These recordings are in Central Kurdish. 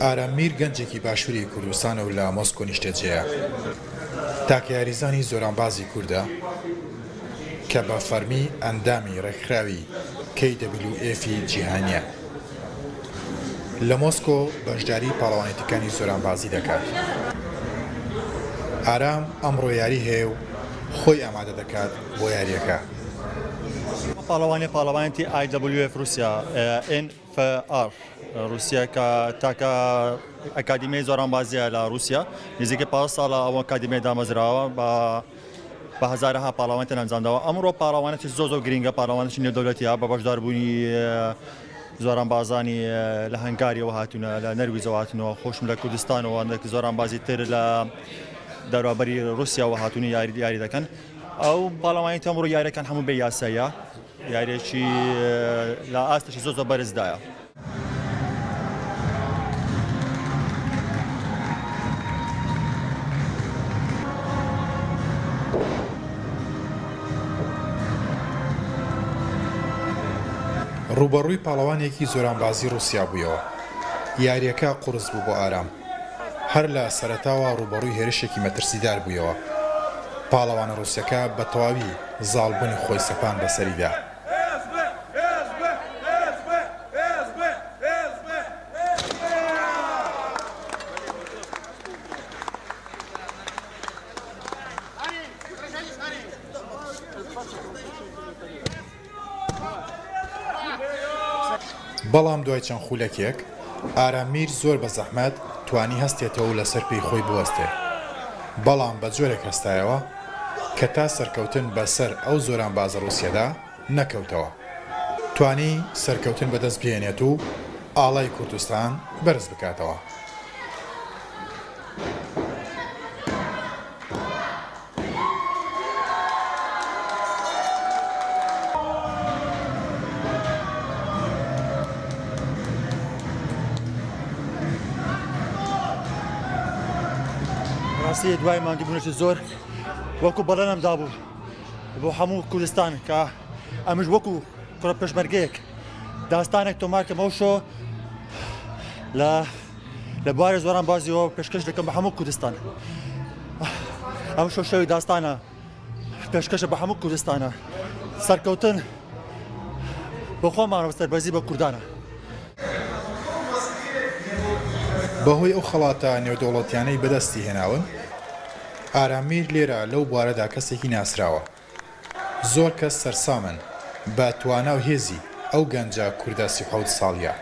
ئارام میر گەنجێکی باشووری کوردستانە و لە مۆسکۆ نیشتەجێیە. تاکە یاریزانی زۆرانبازی کوردە کە بە فەرمی ئەندامی ڕێکخراوی KWF ی جیهانییە. لە مۆسکۆ بەشداری پاڵەوانێتیکانی زۆرانبازی دەکات. ئارام ئەمڕۆ یاری هەیە و خۆی ئامادە دەکات بۆ یارییەکە. ئەم پاڵەوانێ پاڵەوانێتی IWF Russia، ئێن. FR روسیا کە تاکە ئەکادیمیای زۆرانبازیە لە روسیا نزیکەی پازدە ساڵە ئەو ئەکادیمیای دامەزراوە بە بە هەزارەها پاڵەوان تێن ئەنجامداوە ئەمڕۆ پاڵەوانێکی زۆر زۆر گرینگە پاڵەوانێکی نێودەولەتیە بە بەشداربوونی زۆران بازانی لە هەنگاریەوە هاتوونە لە نەرویجەوە هاتنەوە خۆشم لە کوردستانەوە نەک زۆران بازی تر لە دەرابەری رووسیاوە هاتوونی یاری دیاری دەکەن ئەو پاڵەوانی تەمڕ یاریەکان هەموو بێ یاساییە یاریەکی لە ئاستێکی زۆر زۆر بەرزدایە. ڕووبەڕووی پاڵەوانێکی زۆرانبازی ڕووسیا بوویەوە. یاریەکە قوڕس بوو بۆ ئارام. هەر لە سەرەتاوە ڕووبەڕووی هێرشێکی مەترسیدار بوویەوە، پاڵەوانە ڕووسەکە بە تەواوی زاڵبوونی خۆی سەپاند بەسەریدا. بەڵام دوای چەند خولەکێک ئارام میر زۆر بە زەحمەت توانی هەستێتەوە و لەسەر پێی خۆی بوەستێ بەڵام بە جۆرێک هەستایەوە کە تا سەرکەوتن بە سەر ئەو زۆرانبازە ڕووسیەدا نەکەوتەوە توانی سەرکەوتن بە دەست بهێنێت و ئاڵای کوردستان بەرز بکاتەوە. ڕاستی دوای ماندووبوونەوەی زۆر وەکو بەڵێنم دابوو بۆ هەموو کوردستان کە ئەمش وەکو کوڕە پێشمەرگەیەک داستانێک تۆمارکەمەوە شۆ لە لە بوارێ زۆران بازیەوە پێشکەش دەکەم بە هەموو کوردستان ئەم شەو شەوی داستانە پێشکەشە بە هەموو کوردستانە سەرکەوتن بە خۆمانەوە سەربەزی بە کوردانە. بەهۆی ئەو خەڵاتە نێودەوڵەتیانەی بەدەستی هێناون ئارام میر لێرە لەو بوارەدا کەسێکی ناسراوە. زۆر کەس سەرسامن بە توانا و هێزی ئەو گەنجە کوردە سی و حەوت ساڵیە.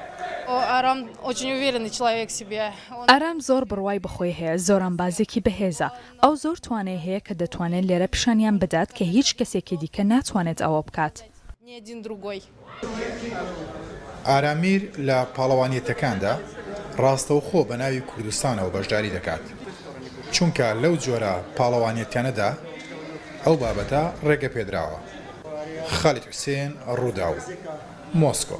ئارام زۆر بڕوای بەخۆی هەیە، زۆرانبازێکی بەهێزە، ئەو زۆر توانای هەیە کە دەتوانێت لێرە پیشانیان بدات کە هیچ کەسێکی دیکە ناتوانێت ئەوە بکات. ئارامیر لە پاڵەوانیەتەکاندا ڕاستەوخۆ بە ناوی کوردستانەوە بەشداری دەکات، چونکە لەو جۆرە پاڵەوانیەتیانەدا ئەو بابەتە ڕێگەپێدراوە. خالید حوسێن، ڕووداو، مۆسکۆ.